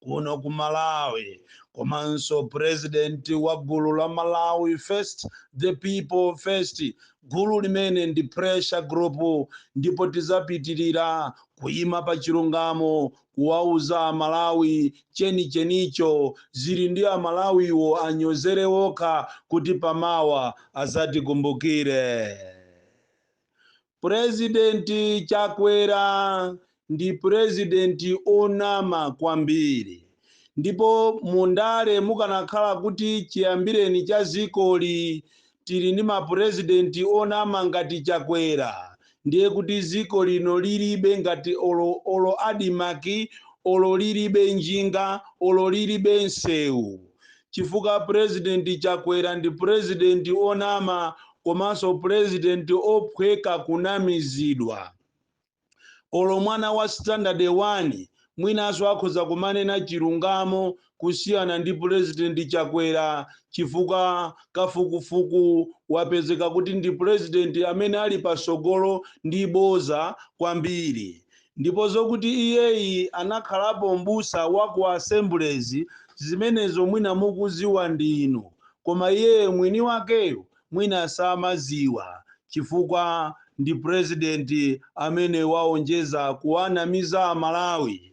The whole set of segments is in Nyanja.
kuno ku malawi komanso president wa gulu la malawi first the people first gulu limene ndi pressure group ndipo tizapitirira kuyima pa chilungamo kuwauza amalawi chenichenicho zili ndi Amalawiwo anyozere okha kuti pamawa azatikumbukire President chakwera ndi president onama kwambiri ndipo mu ndale mukanakhala kuti chiyambireni cha zikoli tili ndi ma president onama ngati chakwera ndiye kuti ziko lino lilibe ngati olo, olo adimaki olo lilibe njinga olo lilibe nsewu chifukwa president chakwera ndi president onama komanso president ophweka kunamizidwa olo mwana wa standard 1 mwinanso akhoza kumanena chilungamo kusiyana ndi president chakwera chifukwa kafukufuku wapezeka kuti ndi president amene ali pasogolo ndi boza kwambiri Ndipo zokuti iyeyi anakhalapo m'busa wa ku Assemblies zimenezo mwina mukuziwa ndi inu koma iye mwini wakeyo mwina samaziwa chifukwa ndi president amene waonjeza kuwanamiza amalawi.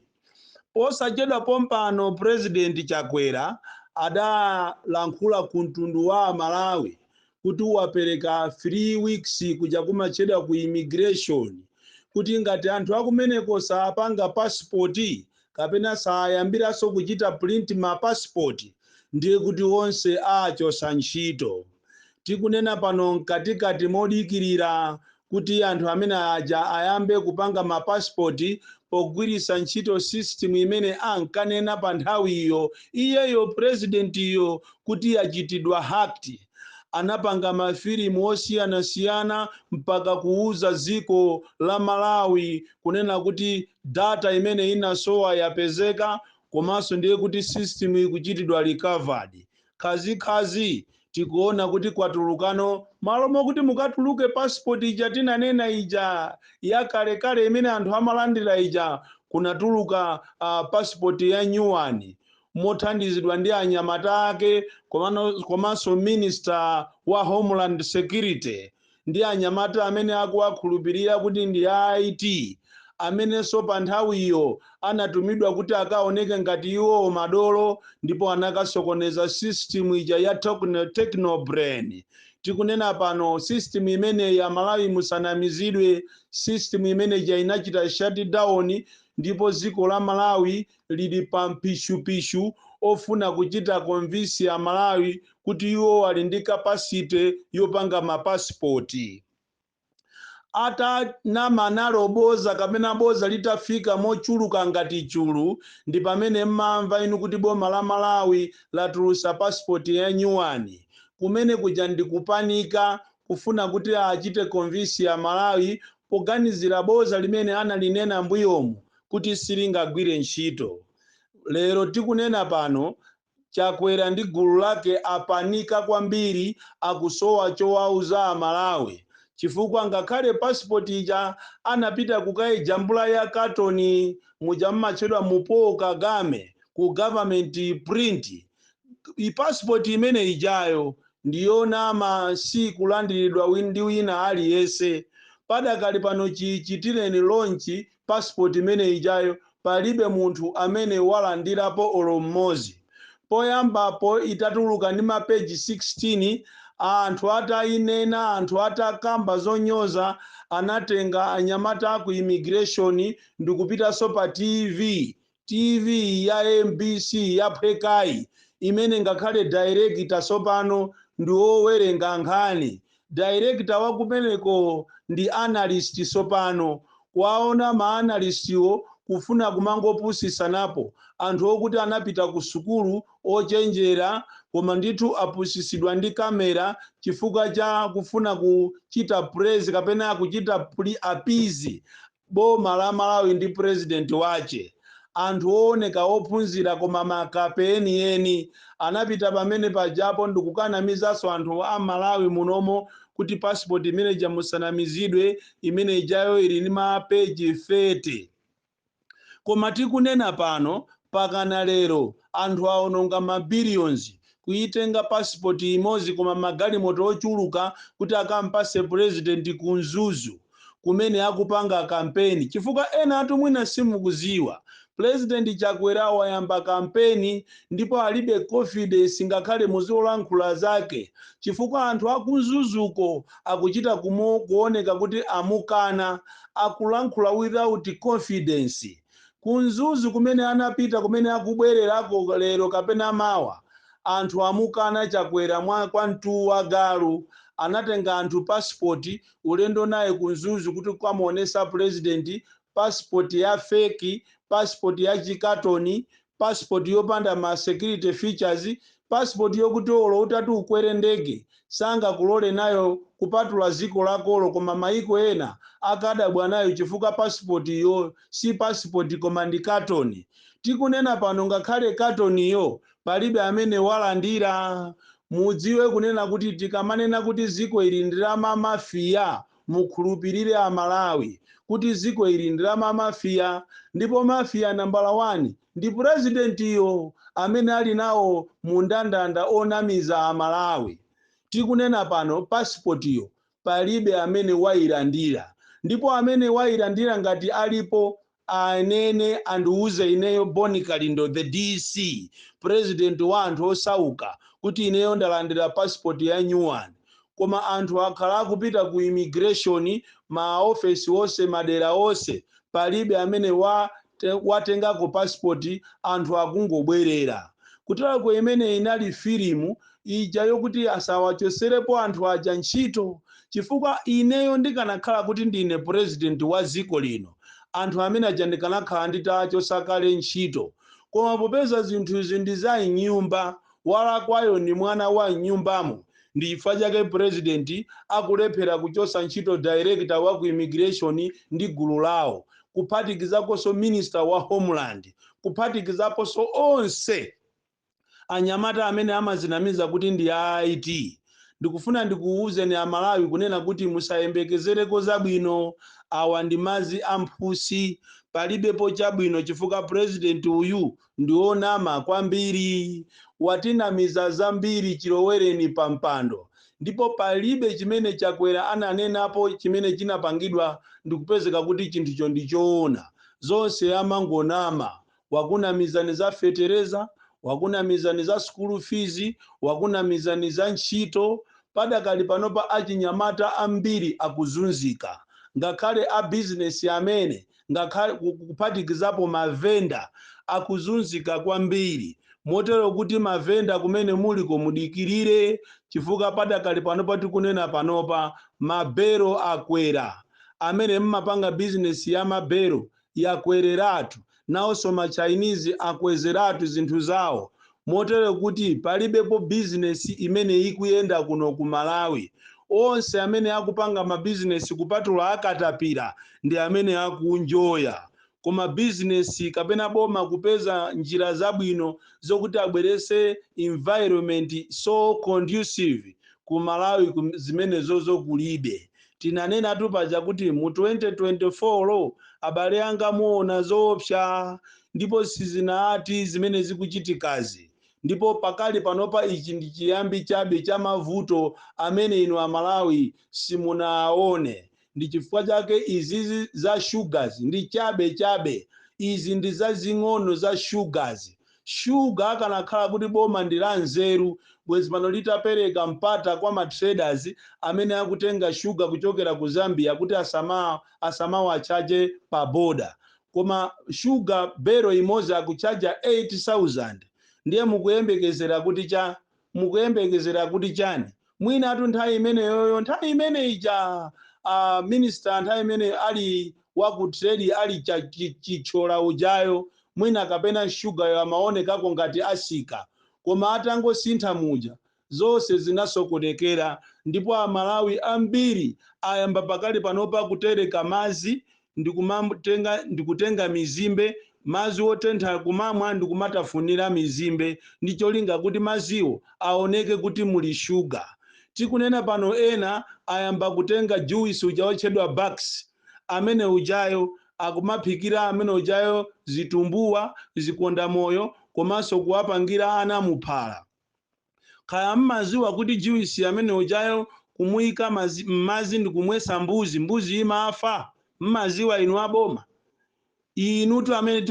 Posachedwa pompano president Chakwera adalankhula ku mtundu wa amalawi kuti wapereka 3 weeks kuja kumatchedwa ku immigration kuti ngati anthu akumeneko saapanga passport kapena sayambiranso kuchita print ma passport ndiye kuti onse aachosa ntchito. Tikunena pano mkatikati modikirira kuti anthu amene aja ayambe kupanga ma passport pogwiritsa ntchito system imene ankanena pa nthawiyo iyeyo president yo kuti yachitidwa hacked. Anapanga ma filimu osiyanasiyana mpaka kuwuza dziko la Malawi kunena kuti data imene inasowa yapezeka komanso ndiye kuti system ikuchitidwa recovered. khazikhazi tikuona kuti kwatulukano malo mokuti mukatuluke passport ija tinanena ija yakalekale imene anthu amalandira ija kunatuluka uh, passport ya new one mothandizidwa ndi anyamata ake komano- komanso minister wa homeland security ndi anyamata amene akuwakhulupirira kuti ndi a IT, amenenso panthawiyo anatumidwa kuti akaoneke ngati iwowo madolo ndipo anakasokoneza system ija ya tokno- Techno Brain. Tikunena pano system imeneyi Amalawi musanamizidwe, system imene ija inachita shutdown ndipo dziko la Malawi lili pa mpishupishu ofuna kuchita convince a Malawi kuti iwo ali ndi capacity yopanga ma passport. Atanama nalo boza kapena boza litafika mochuluka ngati chulu ndi pamene mmamva inu kuti boma la Malawi latulusa passport ya nyuwani. Kumene kuja ndi kupanika kufuna kuti achite convince a Malawi poganizira boza limene analinena mbuyomu kuti silingagwire ntchito. Lero tikunena pano Chakwera ndi gulu lake apanika kwambiri akusowa chowauza a Malawi chifukwa ngakhale passport ija anapita kukaijambula ya katoni muja mmatchedwa mu Paul Kagame ku government print passport imene ijayo ndiyonama sikulandiridwa ndi wina aliyese padakali pano chichitireni launch passport imene ijayo palibe munthu amene walandirapo olo mmozi. Poyambapo itatuluka ndi ma page 16 anthu atayinena anthu atakamba zonyoza anatenga anyamata aku immigration ndikupitanso pa TV TV ya mbc yaphwekayi imene ngakhale director sopano ndi owerenga nkhani director wakumeneko ndi analyst sopano kuwaona ma analyst wo kufuna kumangopusisanapo anthu okuti anapita ku sukulu ochenjera koma ndithu apusisidwa ndi camera chifukwa cha kufuna kuchita praise kapena kuchita appease Boma la Malawi ndi president wache anthu ooneka ophunzira koma makape enieni anapita pamene pajapo ndikukanamizaso anthu a Malawi munomo kuti passport imene ija musanamizidwe imene ijayo ili ndi ma page 30 koma tikunena pano pakana lero anthu aononga ma billions Kuyitenga passport yimozi koma magalimoto ochuluka kuti akampase president ku Mzuzu kumene akupanga kampeni chifukwa enatu mwina simukuziwa president Chakwera wayamba kampeni ndipo alibe confidence ngakhale muzolankhula zake chifukwa anthu aku Mzuzuko akuchita kuwoneka kuti amukana akulankhula without confidence Ku Mzuzu kumene anapita kumene akubwererako lero kapena mawa anthu amukana Chakwera kwa mtu wa galu anatenga anthu passport ulendo naye ku Mzuzu kuti kukamuonesa president passport ya fake passport ya chikatoni passport yopanda ma security features, passport yokuti olo utati ukwere ndege sangakulore nayo kupatula ziko lakolo koma maiko ena akadabwa nayo chifukwa passport yo si passport koma ndi carton. Tikunena pano ngakhale carton yo palibe amene wailandira. Mudziwe kunena kuti tikamanena kuti ziko ili ndi la ma mafia Mukhulupilire a Malawi kuti dziko ili ndi la ma Mafia ndipo Mafia nambala wani ndi Presidentiyo amene ali nawo mu ndandanda onamiza a Malawi. Tikunena pano pasipotiyo palibe amene wailandira ndipo amene wailandira ngati alipo Anene andiuze ineyo Bon Kalindo the DC, president wa anthu osauka, kuti ineyo ndalandira passport ya new one. Koma anthu akhala akupita ku immigration ma office onse madera onse palibe amene watengako passport anthu akungobwerera. Kutelako imeneyi inali filimu ija yokuti asawachotserepo anthu aja ntchito chifukwa ineyo ndikanakhala kuti ndine president wa dziko lino anthu amene aja ndikanakhala nditawachotsa kale ntchito koma popeza zinthu izi ndi za m'nyumba walakwayo ndi mwana wa m'nyumbamo ndi chifukwa chake president akulephera kuchotsa ntchito director wa ku immigration ndi gulu lawo kuphatikizakonso minister wa homeland kuphatikizakonso onse anyamata amene amazinamiza kuti ndi a IT ndikufuna ndikuuzeni a Malawi kunena kuti musayembekezereko zabwino awa ndi mazi a mphusi palibepo chabwino chifukwa president uyu ndi onama kwambiri watinamiza zambiri chilowereni pa mpando ndipo palibe chimene Chakwera ananenapo chimene chinapangidwa ndikupezeka kuti chinthucho ndi choona zonse amangonama wakunamizani za fetereza, wakunamizani za school fees, wakunamizani za ntchito. Padakali panopa achinyamata ambiri akuzunzika, ngakhale a bizinesi amene ngakhale kuphatikizapo mavenda akuzunzika kwambiri motero kuti mavenda kumene muliko mudikirire chifukwa padakali panopa tikunena panopa mabelo akwera amene mmapanga bizinesi ya mabelo yakwereratu, nawonso ma Chinese akwezeratu zinthu zawo motero kuti palibepo business imene ikuyenda kuno ku Malawi. Onse amene akupanga ma business kupatula a katapira ndi amene akunjoya. Koma business kapena boma kupeza njira zabwino zokuti abweretse environment so conducive ku Malawi zimenezozo kulibe. Tinanenatu paja kuti mu 2024 abale anga muona zoopsa ndipo sizinaati zimene zikuchitikazi ndipo pakali panopa ichi ndi chiyambi chabe cha mavuto amene inu a Malawi simunaaone ndi chifukwa chake izizi za shugazi ndi chabe chabe izi ndi zazing'ono za shugazi Shuga akanakhala kuti boma ndi la nzeru bwezi pano litapereka mpata kwa ma traders amene akutenga shuga kuchokera ku Zambia kuti asamawachaje pa boda koma shuga belo imodzi akuchaja 8000 ndiye mukuyembekezera kuti cha Mukuyembekezera kuti chani? Mwinatu nthawi imeneyoyo nthawi imene ija a minister nthawi imene ali wa ku trade ali Chithyola ujayo mwina kapena sugar yo amaonekako ngati atsika koma atangosintha muja zonse zinasokonekera ndipo a Malawi ambiri ayamba pakali panopa kutereka madzi ndikutenga mizimbe, madzi otentha kumamwa ndikumatafunira mizimbe ndi cholinga kuti madziwo aoneke kuti muli sugar. Tikunena pano ena ayamba kutenga juice uja otchedwa Bax amene ujayo akumaphikira amene ujayo zitumbuwa, zikondamoyo komanso kuwapangira ana muphala. Kaya mmaziwa kuti juice amene ujayo kumuika mmazi ndikumwesa mbuzi, mbuzi imafa? Mmaziwa inu a boma? Inutu amene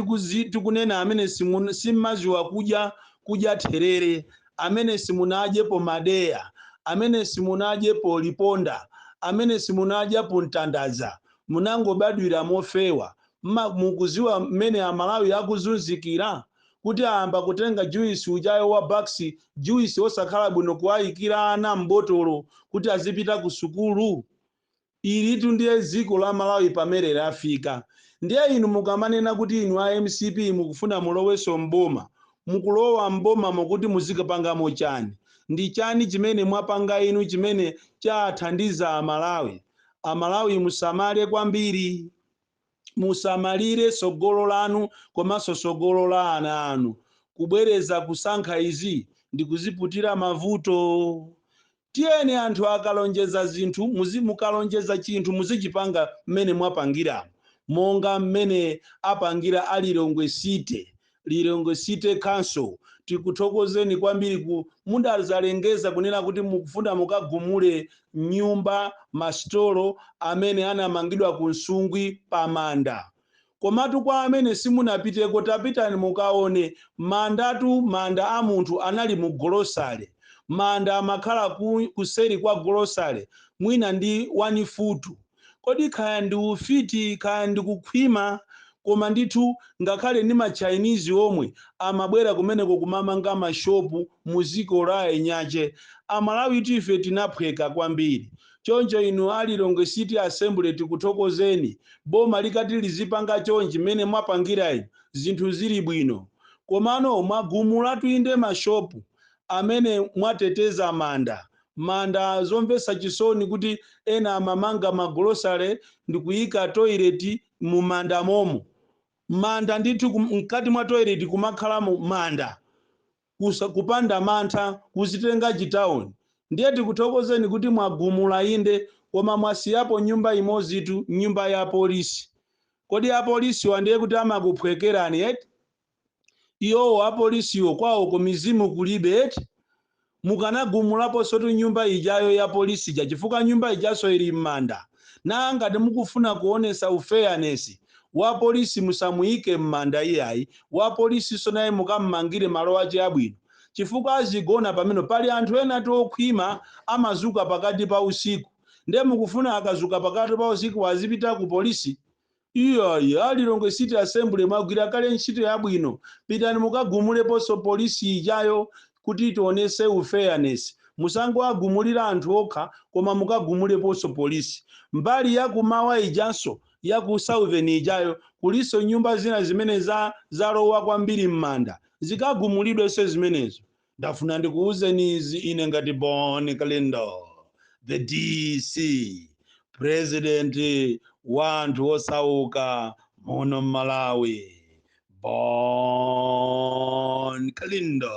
tikunena amene simu, simmaziwa kudya, kudya therere, amene simunadyepo madeya, amene simunadyepo liponda, amene simunadyapo mtandadza, munangobadwira mofewa, mukuziwa mmene a Malawi akuzunzikira? kuti ayamba kutenga juice ujayo wa bax juice osakhala bwino kuwaikira ana m'botolo kuti azipita ku sukulu? Ilitu ndiye dziko la Malawi pamene lafika. Ndiye inu mukamanena kuti inu a mcp mukufuna mulowenso m'boma, mukulowa m'bomamo kuti muzikapangamo chani? Ndi chani chimene mwapanga inu chimene chathandiza a Malawi? A Malawi musamale kwambiri. musamalire tsogolo lanu komanso tsogolo la ana anu. Kubwereza kusankha izi ndikuziputira mavuto. Tiyeni anthu akalonjeza zinthu mukalonjeza chinthu muzichipanga mmene mwapangiramo monga mmene apangira a Lilongwe City Lilongwe City Council tikuthokozeni kwambiri ku mudazalengeza kunena kuti mukufuna mukagumule nyumba masitolo amene anamangidwa ku Nsungwi pa manda. Komatu kwa amene simunapiteko tapitani mukaone mandatu manda a munthu anali mu golosale. Manda amakhala ku, kuseri kwa golosale mwina ndi 1 futu. Kodi kaya ndi ufiti kaya ndi kukhwima koma ndithu ngakhale ndi ma Chinese omwe amabwera kumeneko kumamanga ma shop mu ziko la enyache. Amalawitu ife tinaphweka kwambiri. Choncho inu a Lilongwe City Assembly tikuthokozeni. Boma likati lizipanga chonchi mmene mwapangira inu zinthu zili bwino. Komano mwagumulatu inde ma shop amene mwateteza manda manda zomvetsa chisoni kuti ena amamanga magolosale ndikuyika toilet mumanda momo manda ndithu kum- mkati mwa toilet kumakhalamo manda kusa, kupanda mantha kuzitenga chitawuni ndiye tikuthokozeni kuti mwagumula inde koma mwasiyapo nyumba imodzitu nyumba ya polisi kodi apolisiwa ndiye kuti amakuphwekerani eti Iwowo apolisiwo kwawoko mizimu kulibe eti? Mukanagumulaponsotu nyumba ijayo ya police ija chifukwa nyumba ijanso ili mmanda. Naa ngati mukufuna kuonesa u fairness, wa police musamuike mmanda iyayi, wa policenso naye mukammangire malo ache abwino. Chifukwa azigona pamenepo. Pali anthu enatu okhwima amazuka pakati pa usiku. Nde mukufuna akazuka pakati pa usiku azipita ku police? Iyayi, a Lilongwe City Assembly mwagwira kale ntchito yabwino, pitani mukagumuleponso police ijayo kuti tionese u fairness, musangowagumulira anthu okha koma mukagumuleponso police. Mbali ya ku mawa ijanso ya ku southern ijayo kulinso nyumba zina zimene za zalowa kwambiri mmanda, zikagumulidwenso zimenezo. Ndafuna ndikuuzeni izi ine ngati Bon Kalindo, the DC, president wa anthu osauka muno m'Malawi. Bon Kalindo.